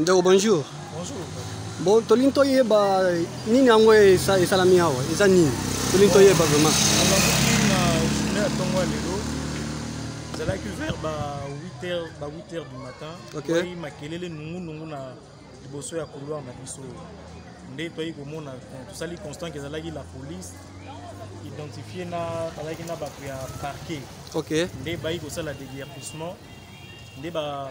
ndeko bonjour bon tolingi toyeba nini yango esalami awa eza nini tolingi toyeba vraiment na ntongo ya lelo ezalaki vers ba 8 heures ba 8 heures du matin okay. makelele nungunungu na liboso ya couloir na biso nde toyaki komona tosali constant ezalaki la police identifie na bazalaki na bato ya parquet okay. nde bayi kosala déguerpissement nde ba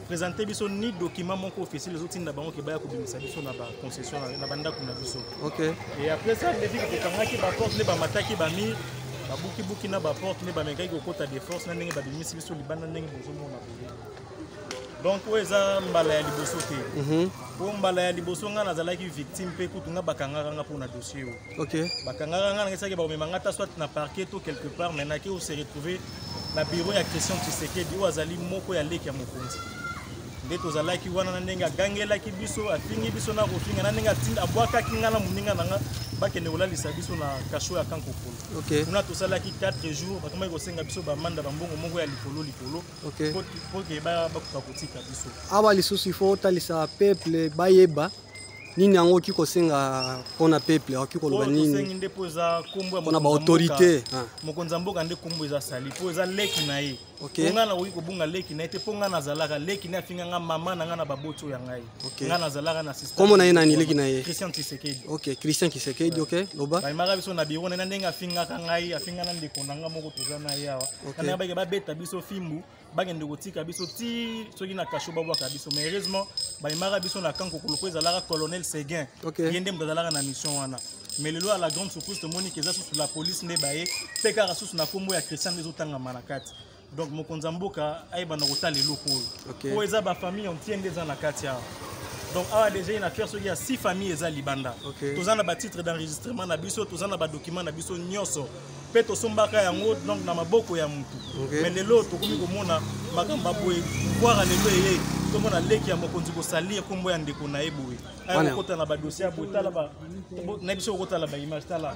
présente biso ni document moko officiel ezotinda bango ke baya kobimisa biso na baconcession na bandako na biso okay. et après ça nde viki kokangaki baporte nde bamataki bamire babukibuki na baporte nde bamekaki kokota de force na ndenge babimisi biso libanda ndenge bozomona boye donc oyo eza mbala ya liboso te mhm. po mbala ya liboso ngai nazalaki victime mpe kutu ngai bakangaka ngai mpo na dossier oyo okay. bakangaka ngai nangesaki bakomema ngai ta soit na parquet to quelque part mais nake ose retrouve na bureau ya christian tshisekedi oyo azali moko ya leki ya mokonzi nde tozalaki wana na ndenge agangelaki biso afingi biso na kofinga na ndenge atinda abwakaki ngai na moninga na ngai bakende kolalisa biso na kasho ya kankokolo okay. kuna tosalaki 4 jours bakomaki kosenga biso bamanda bambongo moko ya likolo likolo okay. poke bakoka kotika biso awa lisusu ifo otalisa peuple bayeba nini yango oki kosenga mpona peuple oki koloba nini nde mpo eza nkombo mpona baautorité ah. mokonzi ya mboka nde nkombo eza sali mpo eza leki na ye okay. mpo ngai nakoki kobunga leki na ye te mpo ngai nazalaka leki na ye afinga ngai mama na ngai na baboti oyo ya ngai Okay. Nga nazalaka na système. Comment naye nani leki naye? Christian Tshisekedi. OK, Christian Tshisekedi, OK. Loba. Ba imaka biso na bureau na ndenge afinga ka ngai, afinga na ndeko na nga moko toza na ye awa. Kana ba ba beta biso fimbu, ba kende kotika biso ti soki na kasho ba bwaka biso. Mais heureusement, ba imaka biso na kanko kuluko ezalaka colonel Seguin. Okay. Yende mtazalaka na mission wana. Mais lelo à la grande surprise tomoni que eza sous la police ne baye, pekara sous na kombo ya Christian ezotanga manakati. donc mokonzi ya mboka ayebana kotala eloko oyo okay. oyo eza bafamille antie nde eza na kati awa donc awa déjà une affaire soki ya six famille eza libanda okay. toza na batitre d'enregistrement na biso toza na badocument na biso nyonso mpe tosombaka yango donc na maboko ya motu okay. mais lelo tokomi komona makambo ya boye voire lelo eye tomona leki ya mokonzi kosalir nkombo ya ndeko na ye boye ayakokota na badossier ya boye tala na biso kokotala baimage tala